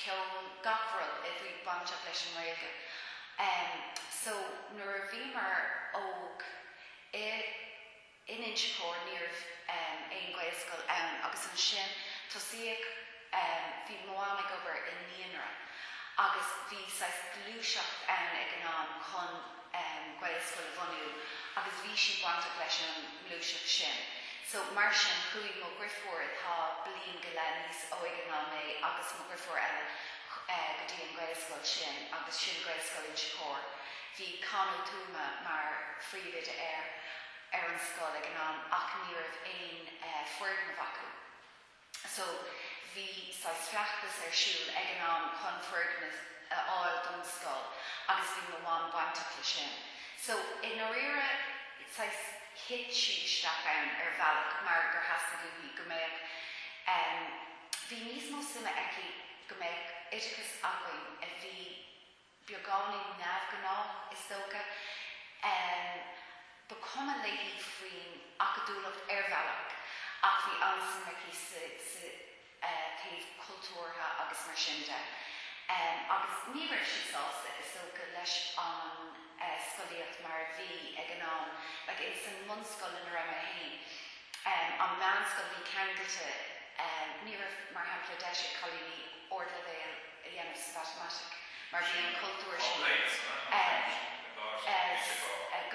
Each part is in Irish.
ceol, gach rud a bhí bainteach leis an nGaeilge. So nuair a bhíomar óg i in Inse Chór ní raibh aon Gaelscoil ann agus ansin tosaíodh bhí mo mham ag obair i naíonra agus bhí saghas gluaiseacht ann ag an am chun um Gaelscoil a bhunú agus bhí sí bainteach leis an ngluaiseacht sin. So mar sin chuaigh mo dhriofúr atá bliain go leith níos óige ná mé agus mo dhriofúr eile eh go dtí an Gaelscoil sin agus sin Gaelscoil Inse Chór. Bhí Con Ó Tuama mar phríomhoide air ar an scoil ag an am ach ní raibh aon eh foirgneamh acu. So, bhí saghas feachtas ar siúl ag an am chun foirgneamh a fháil don scoil agus bhí mo mham bainteach le sin. So, i ndairíre, saghas thit sí isteach ann ar bhealach mar gur theastaigh uaithi go mbeadh em. bhí níos mó suime aici go mbeadh oideachas againn a bhí. beagáinín neamhghnách, is dócha. Ba chuma léi faoin acadúlacht ar bhealach ach bhí an-suim aici sa taobh cultúrtha agus mar sin de. Agus ní raibh sí sásta, is dócha, leis an scolaíocht mar a bhí ag an am. Like, ins an mbunscoil ina raibh mé féin, an meánscoil a bhí ceangailte, ní raibh, mar shampla, deis ag cailíní ardleibhéal, a dhéanamh sa mhatamaitic mar bhí an cultúr sin sa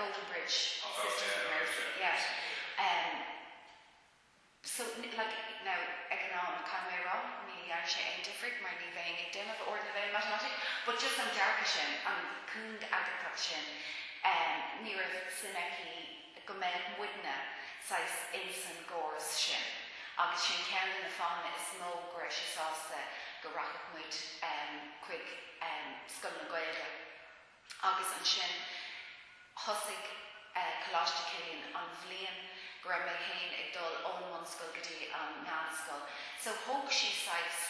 Golden Bridge Sisters of Mercy, yeah. So, like, now, ag an am, caithfidh mé a rá, ní dhearna sé aon difríocht mar ní bheinn ag déanamh ardleibhéal matamaitic but just an dearcadh sin, an cúngaigeantacht sin, ní raibh suim aici. go mbeadh muidne saghas insan gcóras sin agus sin ceann de na fáthanna is mó go raibh sí sásta go rachadh muid chuig scoileanna Gaeilge agus ansin thosaigh Coláiste Chilliain an bhliain go raibh mé féin ag dul ón mbunscoil go dtí an meánscoil so thóg sí saghas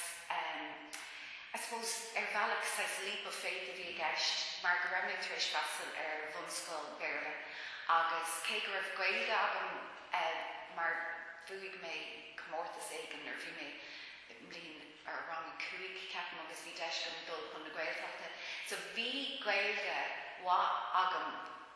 I suppose, ar bhealach, saghas leap of faith a bhí i gceist mar go raibh mé tar éis freastal ar bhunscoil Bhéarla agus cé go raibh Gaeilge agam mar bhuaigh mé comórtas éigin nuair a bhí mé i mbliain, or rang a cúig, ceapaim agus bhí deis agam dul chun na Gaeltachta. So, bhí Gaeilge mhaith agam.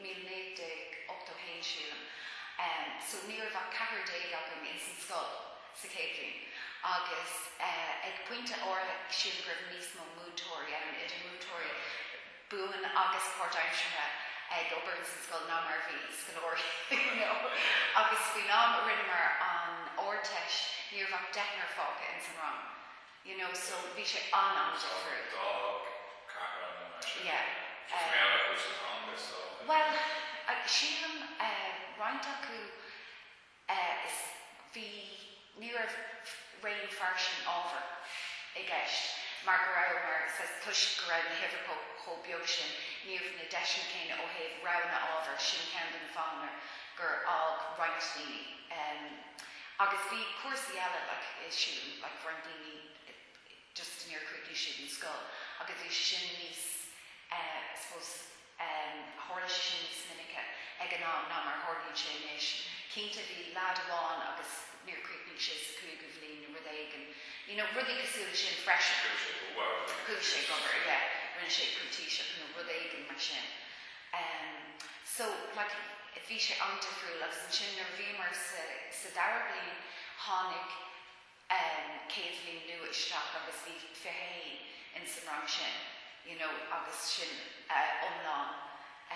míle naoi gcéad ochtó haon sílim so ní raibh ach ceathrar déag againn ins an scoil sa chéad bhliain agus ag pointe áirithe sílim go raibh níos mó múinteoirí ann idir múinteoirí buan agus páirtaimseartha ag obair ins an scoil ná mar a bhí scoláirí you know agus faoin am a rinneamar an Ardteist ní raibh ach deichniúr fágtha ins an rang. you know so bhí sé an-amaideach freisin. An d'fhág ceathrar an ionad sin? Yeah. Just mé eile chuir san teanga so. Bhuel, sílim roinnt acu is bhí ní raibh raon fairsing ábhar i gceist mar go raibh mar saghas toisc go raibh na huimhreacha chomh beag sin ní raibh na deiseanna céanna ó thaobh roghanna ábhar sin ceann de na fáthanna gur fhág roinnt daoine. Agus bhí cúrsaí eile like eh sílim like roinnt daoine just níor chríochnaigh siad an scoil agus bhí sé sin níos eh suppose em tharla sé sin níos minice ag an am ná mar a tharlaíonn sé anois. Cinnte bhí lad amháin agus níor chríochnaigh sé sa cúigiú bhliain nó rud éigin you know rudaí cosúil le sin freisin. Chuaigh sé ag obair, yeah. Rinne sé printíseacht nó rud éigin mar sin. Em so like bhí sé an-difriúil agus ansin nuair a bhíomar sa sa dara bliain tháinig em céad bhliain nua isteach agus bhí fiche a haon in san rang sin you know agus sin eh iomlán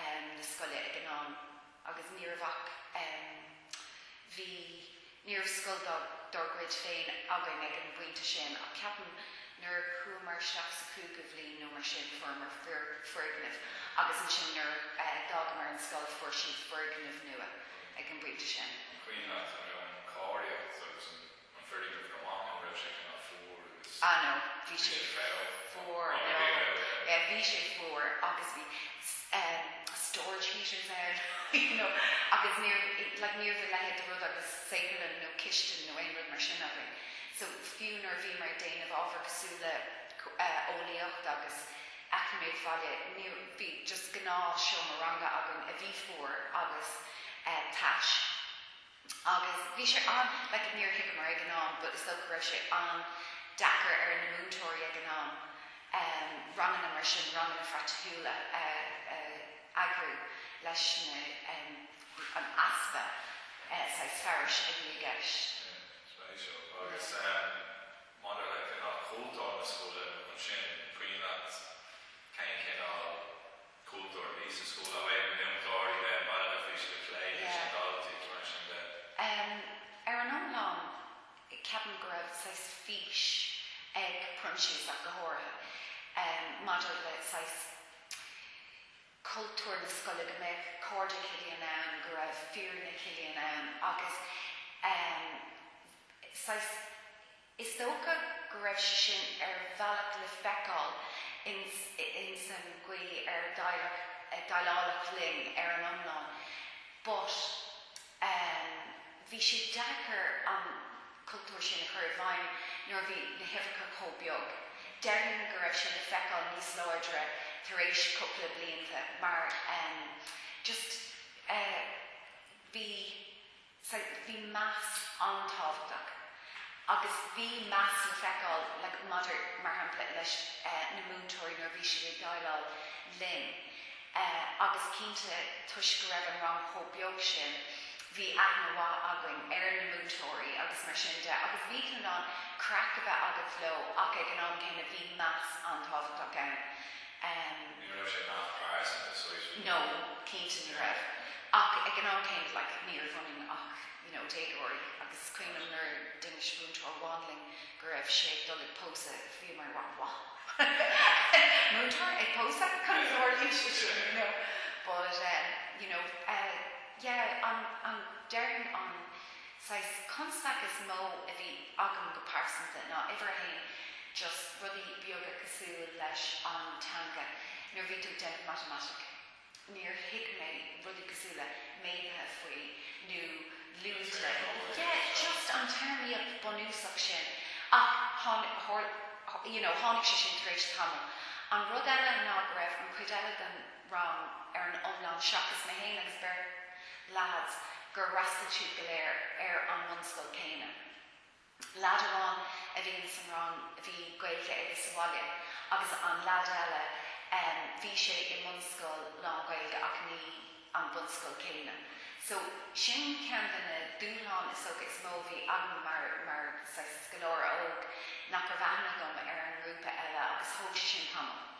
em na scoile ag an am agus ní raibh ach em bhí Ní raibh scoil dár gcuid féin againn ag an bpointe sin ach ceapaim nuair a chuamar isteach sa chúigiú bhliain nó mar sin fuaireamar foirgneamh agus ansin nuair a d'fhágamar an scoil fuair siad foirgneamh nua ag an bpointe sin. Cuimhin leat an meon cáilíocht agus an foirgneamh go maith nó raibh sé cineál fuar? Ah no, bhí sé fuar, no, bhí sé fuar agus bhí storage heaters ann, you know, agus ní raibh, like, ní raibh a leithéid de rud agus saotharlann nó cistin nó aon rud mar sin againn. So, fiú nuair a bhíomar ag déanamh ábhar cosúil le eolaíocht agus eacnamaíocht bhaile, ní raibh, bhí just gnáth seomra ranga againn a bhí fuar agus tais. Agus bhí sé an, like, níor thuigeamar ag an am but is dócha go raibh sé an-deacair ar na múinteoirí ag an am ehm ranganna mar sin, ranganna phraiticiúla a eagrú leis na ehm an easpa eh saghas fearais a bhí i gceist. Ehm, so é seo. Agus ehm maidir le cineál chultúr na scoile ansin, cuimhin leat, cén cineál, cultúr a bhí sa scoil a bheadh in ann cláraí bheith baile na faoi scoil plé leis na daltaí is mar sin de. Ar an iomlán ceapaim go raibh saghas fís ag Proinsias ach go háirithe maidir le saghas cultúr na scoile go mbeadh cairde Chilliain ann go raibh fírinne Chilliain ann agus saghas Is dócha go raibh sin ar bhealach le feiceáil ins an gcaoi ar déileáladh linn ar an iomlán but bhí sé deacair an cultúr sin a chur i bhfeidhm nuair a bhí na huimhreacha chomh beag. Déarfainn go raibh sin le feiceáil níos láidre tar éis cúpla blianta mar just bhí. Sea, bhí meas an-tábhachtach agus bhí meas le feiceáil like maidir, mar shampla, leis na múinteoirí nuair a bhí siad ag déileáil linn agus cinnte toisc go raibh an rang chomh beag sin bhí aithne mhaith againn ar na múinteoirí agus mar sin de agus bhí tú in ann craic a bheith agat leo ach ag an am céanna bhí meas an-tábhachtach ann. Em. Ní raibh sé nach fearr sa soiscéal. No, cinnte ní raibh. Ach ag an am céanna, like, ní raibh ionainn ach, you know, déagóirí agus cuimhním nuair d'inis múinteoir amháin linn go raibh sé ag dul ag pósadh, bhíomar, wha, what? Múinteoir ag pósadh? Cad a tharlaíonn sé sin, you know? But, em, you know, eh, yeah, an, an, déarfainn an, saghas constaic is mó a bhí agam go pearsanta ná uimhir a haon just rudaí beaga cosúil leis an teanga nuair a bhí tú ag déanamh matamaitic níor thuig mé rudaí cosúil le méadaithe faoi nó lúide yeah just an téarmaíocht bunúsach sin ach tháinig you know tháinig sé sin tar éis tamaill an rud eile ná go raibh an chuid eile den rang ar an iomlán seachas mé féin agus beirt leaids gur fhreastail siad go léir ar an mbunscoil céanna. Leaid amháin a bhí ins an rang bhí Gaeilge aige sa bhaile agus an leaid eile bhí sé i mbunscoil lán-Ghaeilge ach ní an bunscoil céanna. So sin ceann de na dúshláin is dócha is mó a bhí agam mar mar saghas scoláire óg nach raibh aithne agam ar an ngrúpa eile agus thóg sé sin tamall.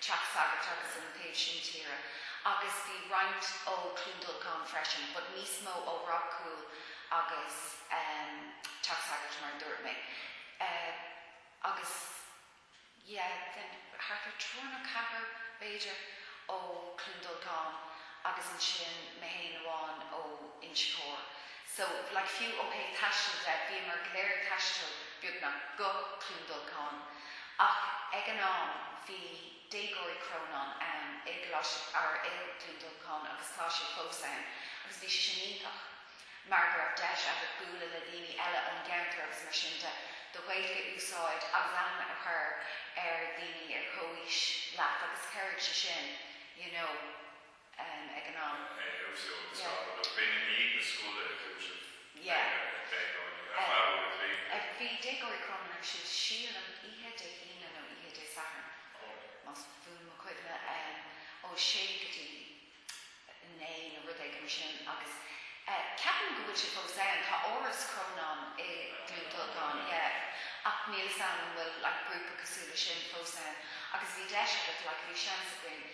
Teach Sagard agus an taobh sin tíre agus bhí roinnt ó Cluain Dolcáin freisin but níos mó ó Ráth Cúil agus ehm Teach Sagard mar a dúirt mé eh agus yeah then thart ar triúr nó ceathrar b'fhéidir ó Cluain Dolcáin agus ansin mé fhéin amháin ó Inse Chór. So, like, fiú ó thaobh taistil de, bhíomar go léir ag taisteal, beagnach, go Cluain Dolcáin. Ach ag an am, bhí Déagóirí Chrónáin ann i gColáiste Fhear Fhill, Cluain Dolcáin, agus tá siad fós ann. Agus bhí sé sin iontach, mar go raibh deis agat bualadh le daoine eile ón gceantar agus mar sin de, do Ghaeilge a úsáid agus aithne a chur ar daoine ar comhaois leat agus chabhraigh sé sin, you know. em ag an am. eh bhí Déagóirí Chrónáin ar siúl sílim oíche Dé hAoine nó oíche Dé Sathairn Oh. más buan mo chuimhne em ó a sé go dtí a naoi nó rud éigin mar sin agus eh ceapaim go bhfuil sé fós ann tá Áras Chrónáin i gCluain Dolcáin yeah ach níl 'fhios a'm an bhfuil like grúpa cosúil leis sin fós ann agus bhí deis agat like bhí seans againn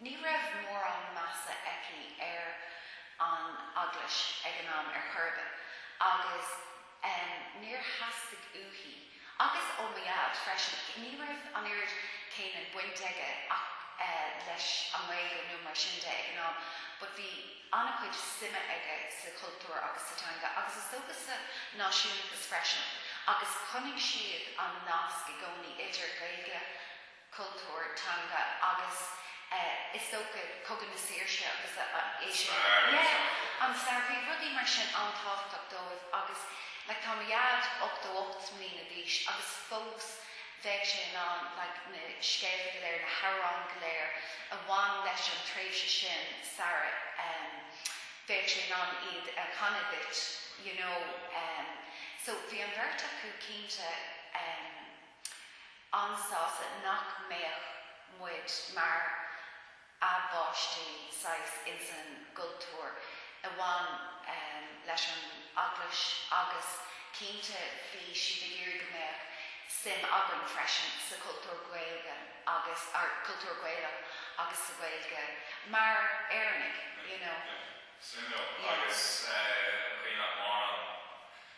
Ní raibh mórán measa aici ar an Eaglais ag an am ar chor ar bith agus níor theastaigh uaithi, agus ó mo Dhaid freisin, ní raibh an oiread céanna baint aige eh leis an nGaeilge nó mar sin de ag an am but bhí an-chuid suime aige sa chultúr agus sa teanga agus is dócha sa náisiúnachas freisin agus chonaic siad an nasc i gcónaí idir Gaeilge cultúr, teanga agus is dócha Cogadh na Saoirse agus yeah, an stair, bhí rudaí mar sin an-tábhachtach dóibh agus like tá mo Dhaid ochtó ocht mbliana d'aois agus fós bheadh sé in ann like na scéalta go léir, na hamhráin go léir a bhain leis an tréimhse sin sara, em, bheadh sé in ann iad a chanadh duit you know, em, so bhí an bheirt acu cinnte, em. an-sásta nach mbeadh muid mar a bpáistí saghas ins an gcultúr a bhain leis an Eaglais agus cinnte bhí siad ag iarraidh go mbeadh suim againn freisin sa chultúr Gaeilge agus or cultúr Gaelach agus sa Ghaeilge mar Éireannaigh, you know. Suimiúil. Agus an chaoi nach maireann.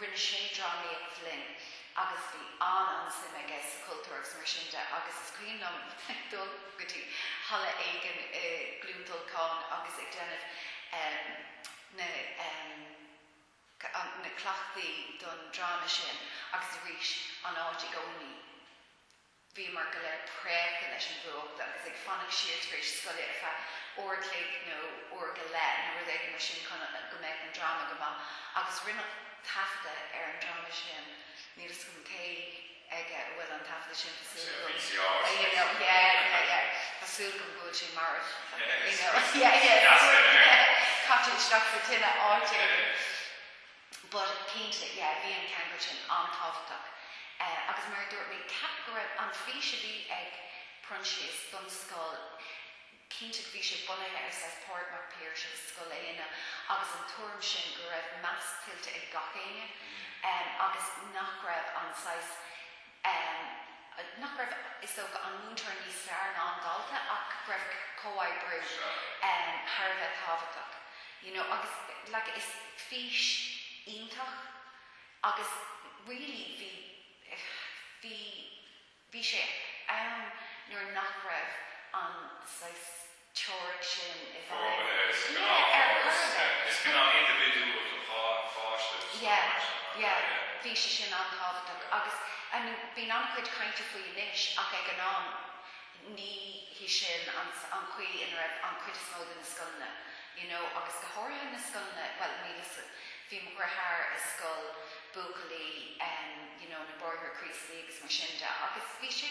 Rinne sé drámaíocht linn agus bhí an-an-suim aige sa chultúr agus mar sin de agus is cuimhin liom dul go dtí halla éigin i gCluain Dolcáin agus ag déanamh ehm na ehm na cleachtaí don dráma sin agus arís an áit i gcónaí Bhíomar go léir préachta leis an bhfuacht agus ag fanacht siar tar éis scoile ar feadh uair an chloig nó uair go leith nó rud éigin mar sin chun go mbeadh an dráma go maith agus rinneadh taifeadadh ar an dráma sin, níl 'fhios agam cé aige a bhfuil an taifeadadh sin, tá súil agam go bhfuil sé mar caite isteach sa tine áit éigin. But cinnte, yeah, bhí an ceangailt sin an-tábhachtach. Agus mar a dúirt mé, ceapaim go raibh an fís a bhí ag Proinsias don scoil, cinnte bhí sé bunaithe ar saghas Pádraig Mac Piarais agus Scoil Éanna agus an tuairim sin go raibh meas tuillte ag gach éinne agus nach raibh an saghas em, nach go raibh fhios ag an múinteoir níos fearr ná an dalta ach go raibh comhoibriú, em, thar a bheith tábhachtach, you know, agus like is fís iontach agus really bhí, bhí, bhí sé ann nuair nach raibh an saghas, teoiric sin i bhfeidhm. Rogha A, scannán Yeah, ar ar dtús. uireasa. Yeah, is scannán indibhidiúil don dhá pháiste is dócha, Yeah, mar sin, nach ea? yeah. Yeah. Bhí sé sin an-tábhachtach Yeah. agus, I mean, bíonn an-chuid cainte faoi anois ach ag an am ní hí sin an an chaoi ina raibh an chuid is mó de na scoileanna, you know, agus go háirithe na scoileanna, bhuel, níl 'fhios a'd, bhí mo dheartháir i scoil buachaillí, em, you know, na Bráithre Críostaí agus mar sin de agus bhí sé,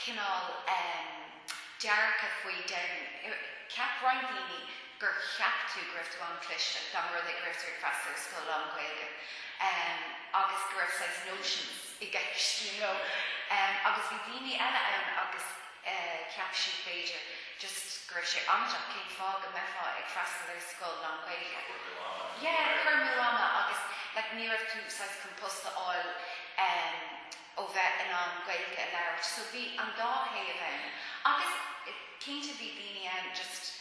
cineál dearcadh faoi then. Cheap roinnt daoine gur cheap tú go raibh tú an-chliste, dá mba rud é go raibh tú ag freastal ar scoil lán-Ghaeilge agus go raibh saghas nóiseans i gceist you know. Agus bhí daoine eile ann agus cheap siad b'fhéidir just go raibh sé amaideach, cén fáth go mbeifeá ag freastal ar scoil lán-Ghaeilge? Cur amú ama. Yeah, cur amú ama agus like ní raibh tú saghas chun post a fháil. ó bheith in ann Gaeilge a labhairt so bhí an dá thaobh ann agus cinnte bhí daoine ann just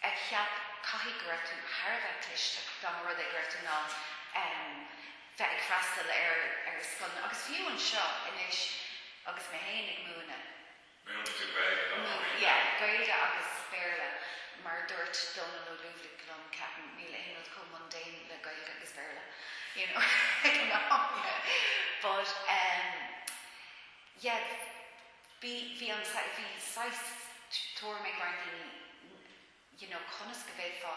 a cheap caithfidh go raibh tú thar a bheith cliste dá mba rud é go raibh tú in ann em bheith ag freastal ar ar scoileanna agus fiú anseo anois agus mé féin ag múineadh. Múineann tú Gaeilge? Yeah. Gaeilge agus Béarla. Mar a dúirt Dónal Ó Lúbhlaigh liom, ceapaim, níl aon rud chomh mundane le Gaeilge agus Béarla, you know, ag an am, yeah. But em yeah bhí bhí an saghas bhí saghas tuairim ag roinnt daoine you know conas go bhféadfá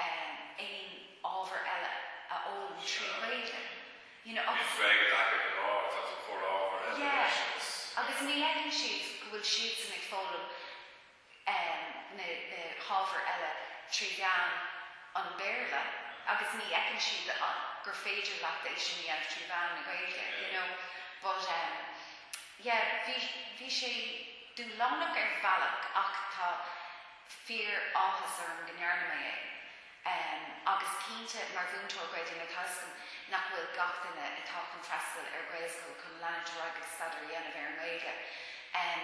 aon ábhar eile a fhoghlaim trí Ghaeilge you know agus. Bhí freagairt acu go leor, tá tú ag cur ábhar eile yeah leis agus. agus ní fheiceann siad go bhfuil siadsan ag foghlaim em na na hábhair eile trí mheán an Bhéarla agus ní fheiceann siad gur féidir leat é sin a dhéanamh trí mheán na Gaeilge yeah you know but em. Yeah, bhí, bhí sé dúshlánach ar bhealach ach tá fíor áthas orm go ndearna mé é. Em, agus cinnte mar mhúinteoir Gaeilge tá 'fhios agam nach bhfuil gach duine atá chun freastal ar Ghaelscoil chun leanúint ar aghaidh agus staidéar a dhéanamh ar an nGaeilge. Em.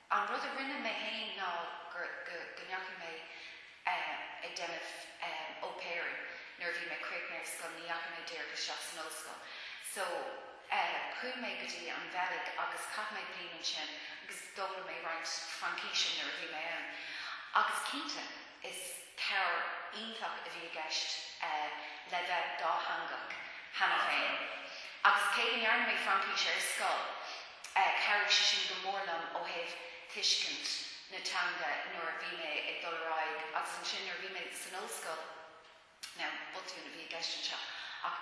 An rud a rinne mé fhéin ná go ndeachaigh mé ag déanamh au pairing nuair a bhí mé críochnaithe ar scoil, ní dheachaigh mé díreach isteach san ollscoil. So, chuaigh mé go dtí an Bheilg agus chaith mé bliain ansin agus d'fhoghlaim mé roinnt Fraincíse nuair a bhí mé ann. Agus cinnte, is. Cabhair iontach a bhí i gceist le bheith dátheangach cheana féin agus cé go ndearna mé Fraincis ach ar scoil, chabhraigh sé sin go mór liom ó thaobh tuiscint na teanga nuair a bhí mé ag dul ar aghaidh agus ansin nuair a bhí mé san ollscoil. Now, botún a bhí i gceist anseo ach.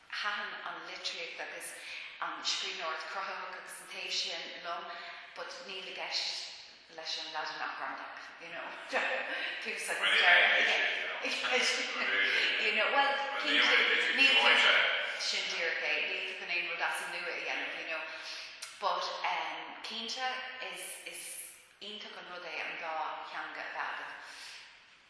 Thaithin an litríocht agus an scríbhneoireacht chruthaitheach agus an taobh sin liom but níl i gceist leis an Laidin ach gramadach, you know, tús agus deireadh, you know. You know, bhuel, cinnte, níl, sin díreach é, níl tú chun aon rud as an nua a dhéanamh, you know, but ehm cinnte is iontach an rud é an dá theanga a bheith agat.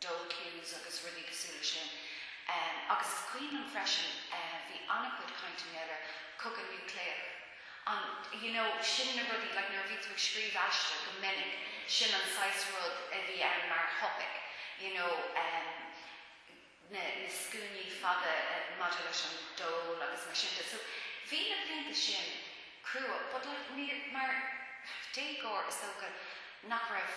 dole queues agus rudaí cosúil le sin. Agus is cuimhin liom freisin bhí ana-chuid cainte ann ar cogadh núicléach. An you know, sin na rudaí like nuair a bhí tú ag scríobh aiste go minic sin an saghas rud a bhí ann mar thopaic you know na scuainí fada maidir leis an dole agus mar sin de. So bhí na blianta sin crua but like mar déagóir is dócha nach raibh,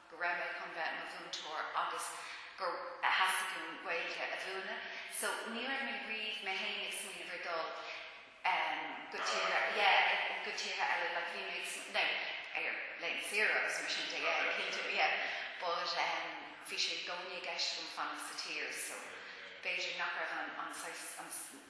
go raibh mé chun bheith mo mhúinteoir agus gur theastaigh uaim Gaeilge a mhúineadh so ní raibh mé riamh mé fhéin ag smaoineamh ar dul ehm go tíortha yeah go tíortha eile like bhí mé ag sm no ar laethanta saoire agus mar sin de yeah cinnte yeah but ehm bhí sé i gcónaí i gceist agam fanacht sa tír so b'fhéidir nach raibh an an saghas an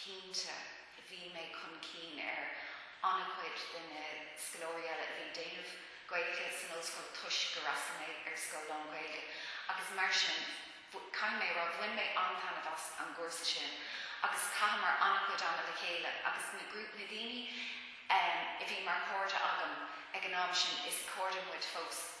cinnte, bhí mé chun cinn ar an-chuid de na scoláirí eile a bhí ag déanamh Gaeilge san ollscoil toisc gur fhreastail mé ar scoil lán-Ghaeilge agus mar sin, caithfidh mé a rá, bhain mé an-taitneamh as an gcúrsa sin agus chaitheamar an-chuid ama le chéile agus na grúpa na daoine a bhí mar chairde agam ag an am sin, is cairde muid fós.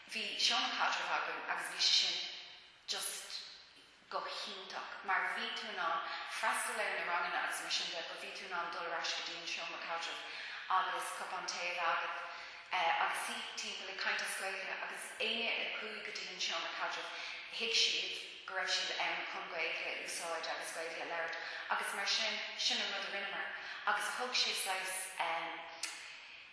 Bhí seomra caidrimh againn agus bhí sé sin just go hiontach mar bhí tú in ann freastal ar na ranganna agus mar sin de but bhí tú in ann dul ar ais go dtí an seomra caidrimh agus cupán tae a bheith agat agus suí timpeall ag caint as Gaeilge agus éinne a chuaigh go dtí an seomra caidrimh thuig siad go raibh siad ann chun Gaeilge a úsáid agus Gaeilge a labhairt agus mar sin sin an rud a rinneamar agus thug sé saghas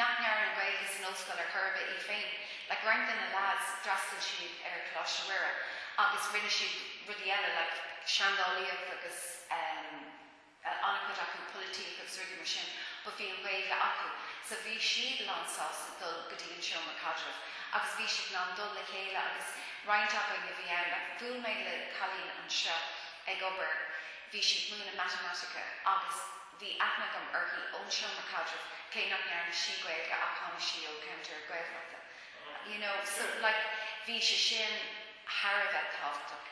nach ndearna Gaeilge san ollscoil ar chor ar bith í féin. Like roinnt de na leaids, d'fhreastail siad ar Coláiste Mhuire agus rinne siad rudaí eile like seandálaíocht agus ehm an-chuid acu polaitíocht agus rudaí mar sin but bhí an Ghaeilge acu so bhí siad lán sásta dul go dtí an seomra caidrimh agus bhí siad in ann dul le chéile agus roinnt acu a bhí ann like bhuail mé le cailín anseo ag obair bhí sí ag múineadh matamaitice agus Bhí aithne agam uirthi ón seomra caidrimh, cé nach ndearna sí Gaeilge ach tháinig sí ó cheantar Gaeltachta, you know, so like bhí sé sin thar a bheith tábhachtach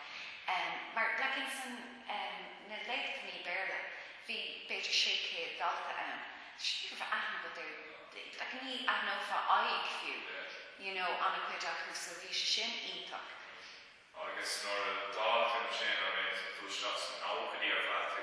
em. Mar like in san em, na léachtannaí Béarla, bhí b'fhéidir sé chéad dalta ann, so ní raibh aithne agat ar like ní aithneofá aghaidh fiú, you know, ana chuid acu so bhí sé sin iontach. Agus nuair a d'fhág tú ansin, bhí tú isteach sna nóchaidí ar feadh, tú.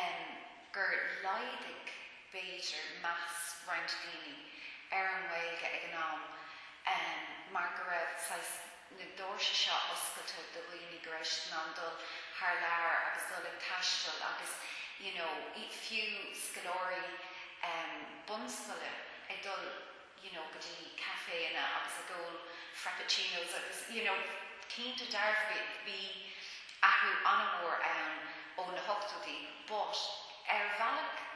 em gur laghdaigh b'fhéidir meas roinnt daoine ar an nGaeilge ag an am em mar go raibh saghas na doirse seo oscailte do dhaoine go raibh siad in ann dul thar lear agus dul ag taisteal agus you know fiú scoláirí em bunscoile ag dul you know go dtí caiféanna agus ag ól frappuccinos agus you know cinnte dearfa bhí athrú an-mhór ann ó na hochtóidí but ar bhealach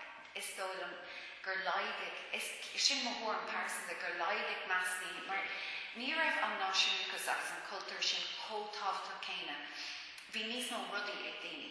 is dóigh liom gur laghdaigh, is sin mo thuairim pearsanta, gur laghdaigh meas daoine mar ní raibh an náisiúnachas agus an cultúr sin chomh tábhachtach céanna, bhí níos mó rudaí ag daoine.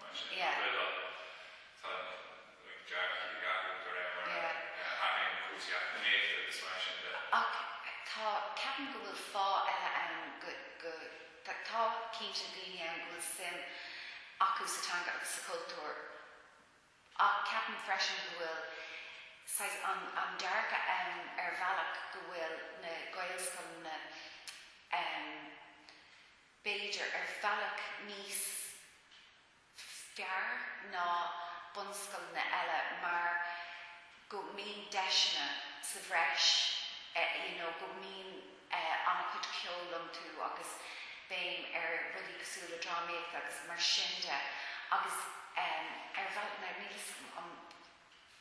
Más ea. Bhuel, tá an dearcadh ag athrú de réir mar a athraíonn na cúrsaí eacnamaíochta agus mar sin de. Ach tá, ceapaim go bhfuil fáth eile ann go, go, tá cinnte daoine ann go bhfuil suim acu sa teanga agus sa chultúr ach ceapaim freisin go bhfuil saghas an, an dearcadh ann ar bhealach go bhfuil na Gaelscoileanna, em, b'fhéidir ar bhealach níos fearr ná bunscoileanna eile mar go mbíonn deiseanna sa bhreis you know go mbíonn an-chuid ceoil iontu agus béim ar rudaí cosúil le drámaíocht agus mar sin de agus ar bhealach níl fhios agam an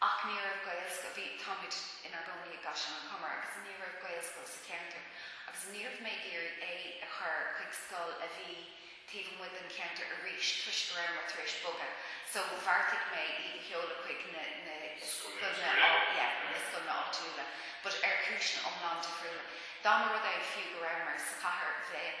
Ach ní raibh Gaelscoil, bhí, táimid inár gcónaí i gCaisleán an Chomair agus ní raibh Gaelscoil sa cheantar agus ní raibh mé ag iarraidh é a chur chuig scoil a bhí taobh amuigh den cheantar arís toisc go rabhamar tar éis bogadh so bheartaigh mé iad a sheoladh chuig na scoileanna, yeah, na scoileanna áitiúla but ar chúiseanna iomlán difriúla. Dá mba rud é fiú go rabhamar sa chathair bheadh,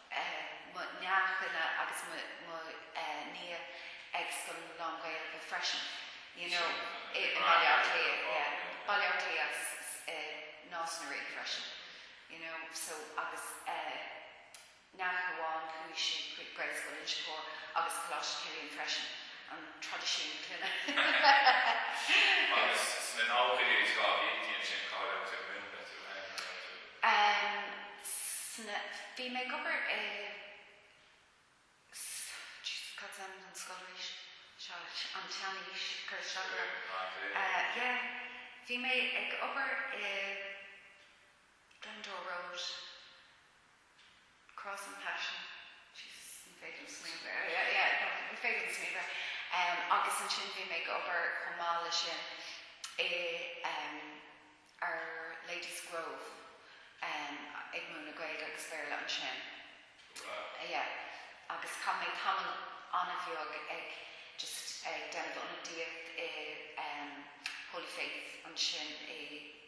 mo neachtanna agus mo nia ag scoil lán-Ghaeilge freisin you know i mBaile Átha Cliath yeah Baile Átha Cliath agus i Nás na Ríogh freisin you know so agus neacht amháin chuaigh sí chuig Gaelscoil Inse Chór agus Coláiste Chilliain freisin an traidisiún clainne agus sna nóchaidí agus dhá bhliain déan sin cáil agus Em. sna. bhí mé ag obair i. S, Jesus, cad is ainm don scoil arís? Seo, an tseanaois, cur isteach orm. Em. ah, bhí. Eh, yeah. Bhí mé ag obair i Glendower Road. Cross and Passion, Jesus, ní féidir liom smaoineamh ar, yeah, yeah, no, ní féidir liom smaoineamh ar. Um, agus ansin bhí mé ag obair chomh maith le sin i um, ar Ladies Grove um, ag múineadh Gaeilge agus Béarla ansin. Right. Uh, yeah. Agus chaith mé tamall an-bheag ag just ag déanamh ionadaíocht i um, Holy Faith ansin i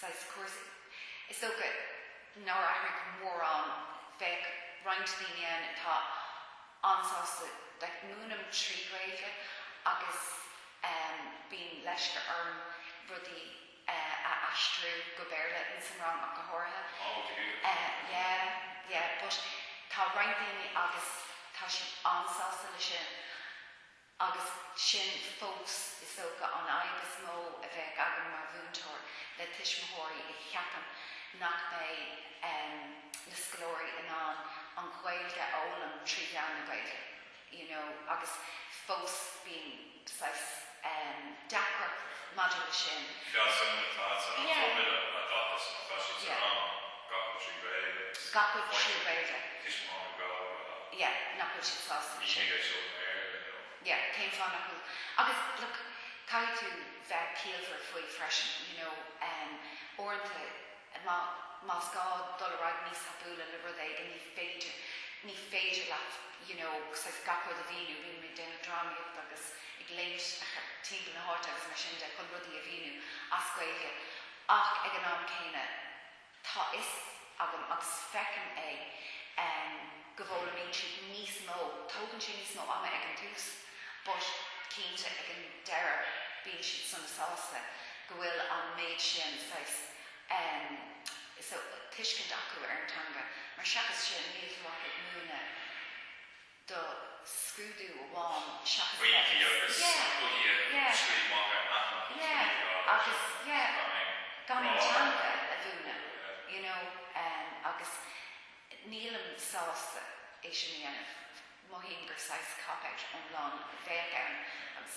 saghas cúrsaí. Is dócha nár athraigh mórán. Bheadh roinnt daoine ann atá an-sásta like múinim trí Ghaeilge agus em bíonn leisce orm rudaí eh a aistriú go Béarla in san rang ach go háirithe. Oh ok Eh yeah yeah but tá roinnt daoine agus tá siad an-sásta le sin. Agus sin fós is dócha an fhadhb is mó a bheadh agam mar mhúinteoir le tuismitheoirí a cheapann nach mbeidh na scoláirí in ann an Ghaeilge a fhoghlaim trí mheán na Gaeilge you know agus fós bíonn saghas deacracht maidir leis sin. Fealsúnacht, tá, tá an fóirmile á dtathant, tá siad sa rang. Gabhann sí Gaeilge. Gabhann sí Gaeilge. Tuismitheoirí Gaeltachta. Yeah, nach bhfuil siad sásta leis sin. Ní hé seo an Éirinn inniu. Yeah, cén fáth nach bhfuil? Agus, look, caithfidh tú bheith ciallmhar faoi freisin, you know, em, uaireanta má, más gá dul ar aghaidh níos tapúla le rud éigin, ní féidir, ní féidir leat, you know, saghas gach rud a mhíniú, bíonn muid ag déanamh drámaíocht agus ag léimt timpeall na háite agus mar sin de chun rudaí a mhíniú as Gaeilge ach ag an am céanna, Tá fhios agam agus feicim é em go bhfoghlaimíonn siad níos mó, tógann sé níos mó ama ag an tús but cinnte ag an deireadh bíonn siad sona sásta go bhfuil an méid sin saghas em so tuiscint acu ar an teanga mar seachas sin níl tú ach ag múineadh do scrúdú amháin seachas a bheith ag yeah yeah yeah yeah agus yeah gan an teanga a mhúineadh you know agus nílim sásta é sin a dhéanamh mothaím gur saghas cop out iomlán a bheadh ann agus.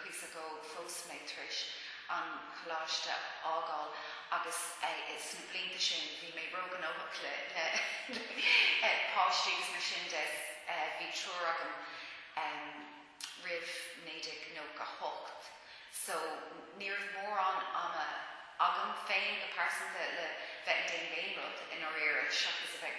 cuid a dó phós mé tar éis an choláiste a fhágáil agus sna blianta sin bhí mé ró-ghnóthach le páistí agus mar sin de bhí triúr agam roimh 1998 so ní raibh mórán ama agam féin go pearsanta le bheith ag déanamh aon rud i ndáiríre seachas a bheith ag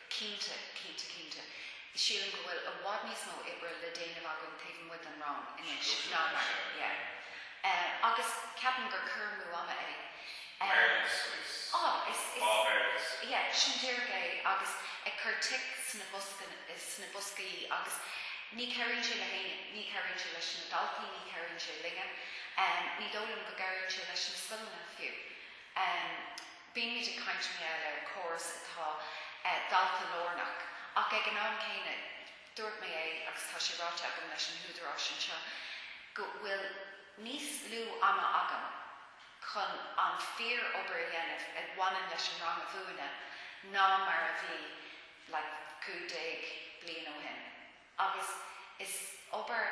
Cinnte, cinnte, cinnte. Sílim go bhfuil i bhfad níos mó oibre le déanamh againn taobh amuigh den rang anois ná mar, yeah. Eh, agus ceapaim gur cur amú ama é. Awareness, is, á, is, yeah, sin díreach é agus ag cur tic sna boscanna, sna boscaí agus ní cabhraíonn sé le héinne, ní cabhraíonn sé leis na daltaí, ní cabhraíonn sé linne. Em, ní dóigh liom go gcabhraíonn sé leis na scoileanna fiú. Em. Bímid ag caint mar gheall ar córas atá dalta-lárnach, ach ag an am céanna, dúirt mé é agus tá sé ráite agam leis na húdaráis anseo, go bhfuil níos lú ama agam chun an fíor obair a dhéanamh a bhaineann leis an rang a mhúineadh ná mar a bhí like cúig déag bliain ó shin. Agus is obair.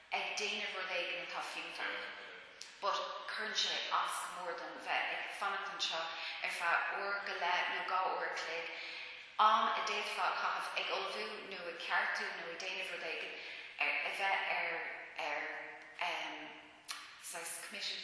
ag déanamh rud éigin atá fiúntach but cuireann sé as go mór dom bheith ag fanacht anseo ar feadh uair go leith nó dhá uair a chloig, am a d'fhéadfá a chaitheamh ag ullmhú nó ag ceartú nó ag déanamh rud éigin, ar bheith ar ar em. saghas committee.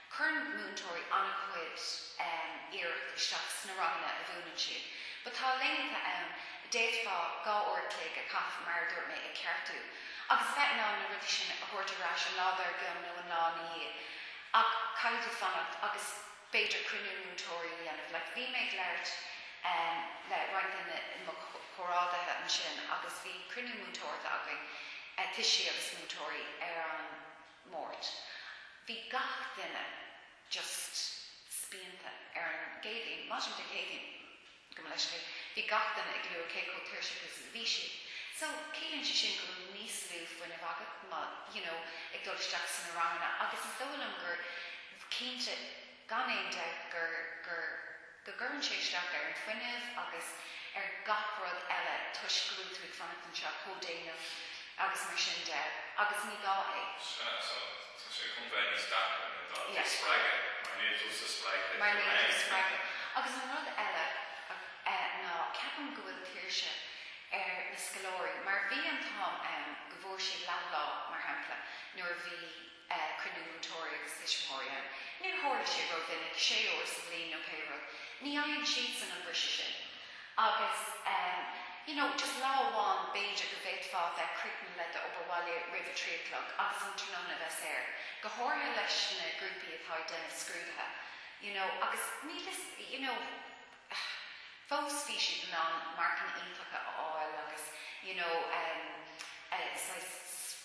Cuireann múinteoirí an-chuid iarracht isteach sna ranganna a mhúineann siad. But tá laethanta ann a d'fhéadfá dhá uair a chloig a chaitheamh, mar a dúirt mé, ag ceartú. Agus a bheith in ann na rudaí sin a thabhairt ar ais an lá dár gcionn nó an lá ina dhiaidh. Ach caithfidh tú fanacht agus b'fhéidir cruinniú múinteoirí a dhéanamh. Like, bhí mé ag labhairt le roinnt de mo chomhrádaithe ansin agus bhí cruinniú múinteoirí againn, tuistí agus múinteoirí, ar an. Máirt. Bhí gach duine just spíonta ar an gCéadaoin. Maidin Dé Céadaoin, go mba leisce é, bhí gach duine ag lua cé chomh tuirseach is a bhí siad. So, ciallaíonn sé sin go bhfuil níos lú fuinnimh agat, you know, ag dul isteach sna ranganna agus is dóigh liom gur cinnte, gan aon dabht gur, gur, go gcuireann sé isteach ar an fuinneamh agus ar gach rud eile toisc go bhfuil tú ag fanacht anseo chomh déanach agus mar sin de agus ní gá é. Sea, so tá sé chun bheith níos deacra na daltaí a spreagadh mar níl tusa spreagtha mar níl tusa spreagtha agus an rud eile ná ceapaim go bhfuil tuirse ar na scoláirí mar bhí an t-am ann go bhfuair siad leathlá mar shampla nuair a bhí bhí cruinniú múinteoirí agus tuismitheoirí ann. Níor tharla sé ró-mhinic, sé uair sa bhliain nó pé rud. Ní fhaigheann siadsan an briseadh sin. Agus em. you know, just lá amháin b'fhéidir go bhféadfá a bheith críochnaithe le d'obair bhaile roimh a trí a chlog agus an tráthnóna a bheith saor. Go háirithe leis na grúpaí atá ag déanamh scrúduithe. You know, agus níl 'fhios, you know, fós bhí siad in ann marcanna iontacha a fháil agus, you know, em, eh, saghas,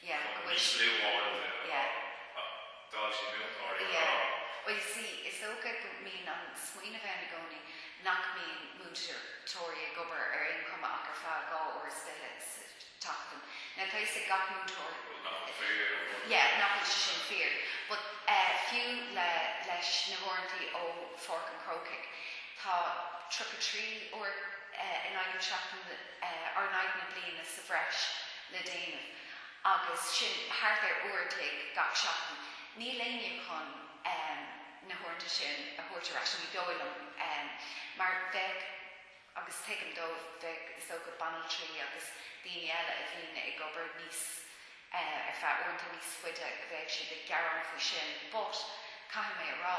yeah, go bhfuil sí, yeah. D'fhoilsigh múinteoirí an dán. Yeah, bhuel you see, is dócha go mbíonn an smaoineamh ann i gcónaí nach mbíonn múinteoirí ag obair ar aon chuma ach ar feadh dhá uair is fiche sa tseachtain. Now tá fhios ag gach múinteoir, yeah, nach bhfuil sé sin fíor but eh fiú le, leis na huaireantaí ó Pháirc an Chrócaigh, tá tríocha trí uair eh in aghaidh na seachtaine eh or in aghaidh na bliana sa bhreis, le déanamh agus sin thart ar uair a chloig gach seachtain. Níl éinne chun na huaireanta sin a thabhairt ar ais, ní dóigh liom, mar bheadh, agus tuigim dóibh, bheadh is dócha banaltraí agus daoine eile a bhíonn ag obair níos, ar feadh uaireanta níos faide, bheadh siad ag gearán faoi sin but caithfidh mé a rá,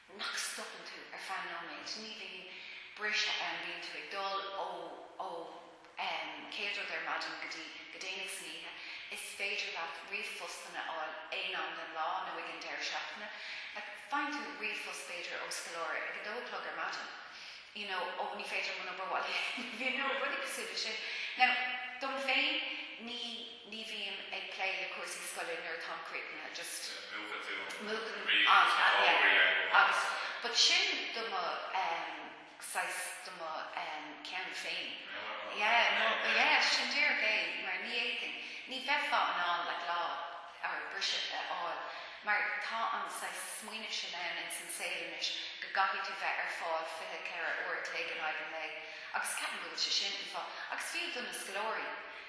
nach stopann tú ar feadh nóiméid, ní bhíonn briseadh ann, bíonn tú ag dul ó ó um chéad rud ar maidin go dtí go déanach san oíche, is féidir leat ríomhphostanna a fháil aon am den lá nó ag an deireadh seachtaine, faigheann tú ríomhphost b'fhéidir ó scoláire ag a dó a chlog ar maidin you know oh ní féidir liom an obair bhaile a dhéanamh, you know rudaí cosúil leis sin. Now dom féin ní. ní bhím ag plé le cúrsaí scoile nuair atáim críochnaithe, just. múchann tú an múchann bhrí an agus an yeah fhobhrí ar ndóigh. agus but sin do mo em saghas do mo em ceann féin Meabhar mo yeah mo yeah yeah yeah sin díreach é mar ní fhéadfainn ní bheifeá in ann like lá or briseadh a fháil mar tá an saghas smaoineamh sin ann ins an saol anois go gcaithfidh tú bheith ar fáil fiche ceithre uair a chloig in aghaidh an lae agus ceapaim go bhfuil sé sin an fáth agus fiú do na scoláirí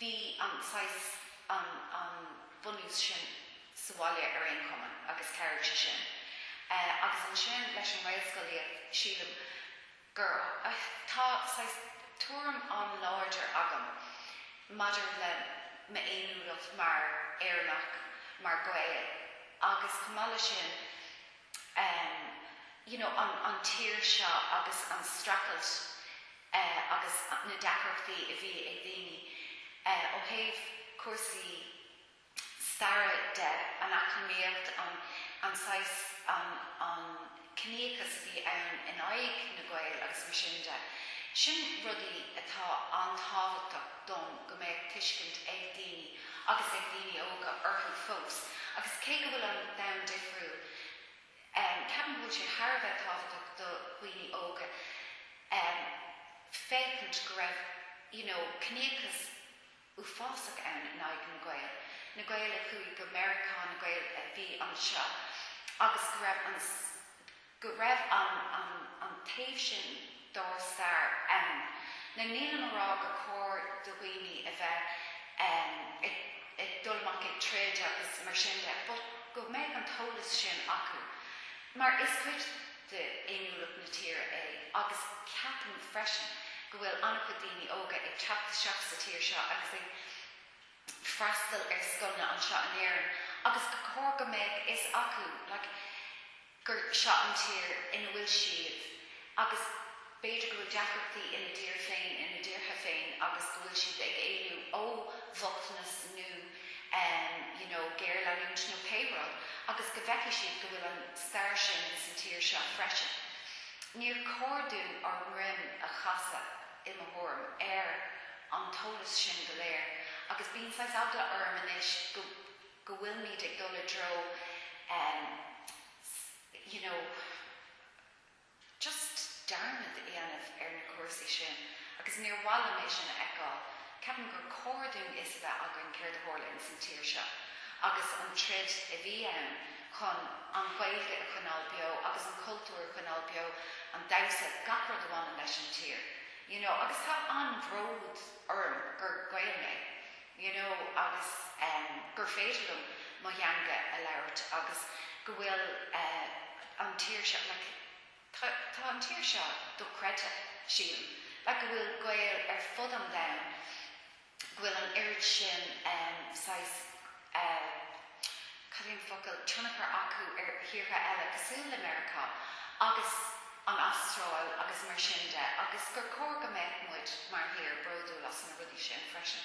Bhí an saghas, an, an bunús sin sa bhaile ar aon chuma agus chabhraigh sé sin. Eh, agus ansin leis an nGaelscolaíocht, sílim gur, eh, tá saghas tuairim an-láidir agam maidir le m'fhéiniúlacht mar Éireannach, mar Ghael agus chomh maith leis sin, em you know an an tír seo agus an streachailt eh agus na deacrachtaí a bhí ag daoine eh ó thaobh cúrsaí staire de, an eacnamaíocht, an an saghas an an ciníochas a bhí ann in aghaidh na Gael agus mar sin de. Sin rudaí atá an-tábhachtach dom go mbeadh tuiscint ag daoine. ag daoine óga orthu fós agus cé go bhfuil an domhan difriúil ceapaim go bhfuil sé thar a bheith tábhachtach do dhaoine óga féachaint go raibh you know ciníochas uafásach ann in aghaidh na Gael, na Gael a chuaigh go Meiriceá, na Gael a bhí anseo agus go raibh an. go raibh an, an, an taobh sin dár stair ann. Na, nílim a rá gur chóir do dhaoine a bheith em ag, ag dul amach ag troid agus mar sin de but go mbeidh an t-eolas sin acu mar is cuid de fhéiniúlacht na tíre é agus ceapaim freisin go bhfuil an-chuid daoine óga ag teacht isteach sa tír seo agus ag freastal ar scoileanna anseo in Éirinn agus gur cóir go mbeadh a fhios acu like gur seo an tír ina bhfuil siad agus b'fhéidir go bhfuil deacrachtaí ina dtír féin, ina dtíortha féin agus go bhfuil siad ag éalú ó bhochtanas nó ehm you know géarleanúint nó pé rud agus go bhfeicfidh siad go bhfuil an stair sin sa tír seo freisin. Níor chóir dúinn ár ndroim a chasadh. i mo thuairim, ar an eolas sin go léir agus bíonn saghas eagla orm anois go, go bhfuil muid ag dul i dtreo em. just you know, just dearmad a dhéanamh ar na cúrsaí sin agus níor mhaith liom é sin a fheiceáil. Ceapaim gur cóir dúinn a fhios a bheith againn céard a tharla ins an tír seo agus an troid a bhí ann. chun an Ghaeilge a choinneáil beo agus an cultúr a choinneáil beo, an damhsa, gach rud a bhaineann leis an tír you know agus tá an-bhród orm gur Gael mé you know agus ehm gur féidir liom mo theanga a labhairt agus go bhfuil eh an tír seo like tá tá an tír seo dochreidte sílim like go bhfuil Gaeil ar fud an domhain bhfuil an oiread sin saghas, cad é an focal, tionchar acu ar thíortha eile cosúil le Meiriceá agus an Astráil agus mar sin de agus gur chóir go mbeadh muid mar thír bródúil as na rudaí sin freisin.